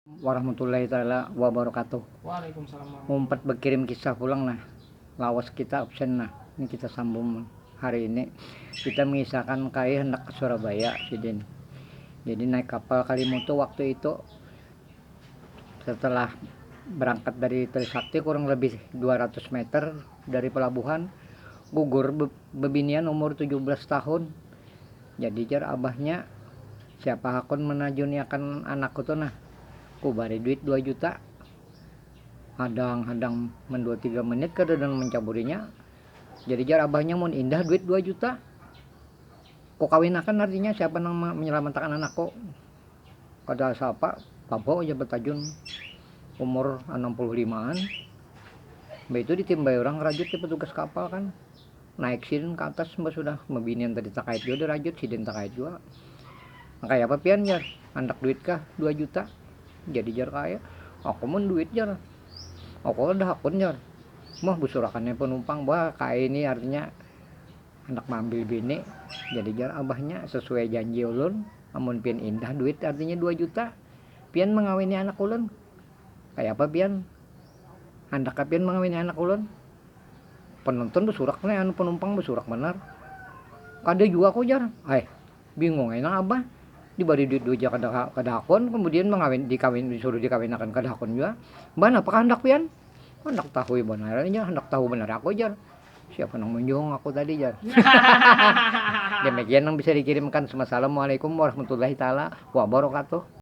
Warahmatullahi taala wabarakatuh. Umpat bakirim kisah pulang nah. Lawas kita absen nah. Ni kita sambung hari ini. Kita mengisahkan kai handak ke Surabaya sidin. Jadi naik kapal Kalimutu waktu itu. Setelah berangkat dari Trisakti kurang lebih 200 meter dari pelabuhan. Gugur bebinian umur 17 tahun. Jadi jar abahnya, siapa hakun manajuniakan anakku tu nah, ku bari duit dua juta. Hadang hadang man dua tiga menit kada nang mancaburinya, jadi jar abahnya mun indah duit dua juta, ku kawinakan artinya siapa nang manyalamatakan anakku. Kada siapa, babau ja batajun umur anam puluh limaan, mbah itu ditimbai urang rajut di petugas kapal kan. Naik sidin ka atas mbah sudah, babinian tadi takait jua dirajut, sidin takait jua. Nang kaya apa pian jar, handak duit kah dua juta, jadi jar kaya, aku mun duit jar, aku kada hakun jar, mah busurakan nya panumpang bah kaya ini artinya handak maambil bini, jadi jar abahnya sesuai janji ulun amun pian indah duit artinya dua juta pian mangawini anak ulun, kaya apa pian handak kah pian mangawini anak ulun. Penonton besurak ne anu penumpang besurak banar. Kada jua ko jar. Aih, bingung ai nang abah. Dibari duit dua ja kada kada hakun, kemudian mengawin dikawin disuruh dikawinakan kada hakun jua. Mbah napa kah handak pian? Handak tahui banar ai jar, handak tahu banar aku jar. Siapa nang munjung aku tadi jar. Demikian nang bisa dikirimkan. Wassalamualaikum warahmatullahi taala wabarakatuh.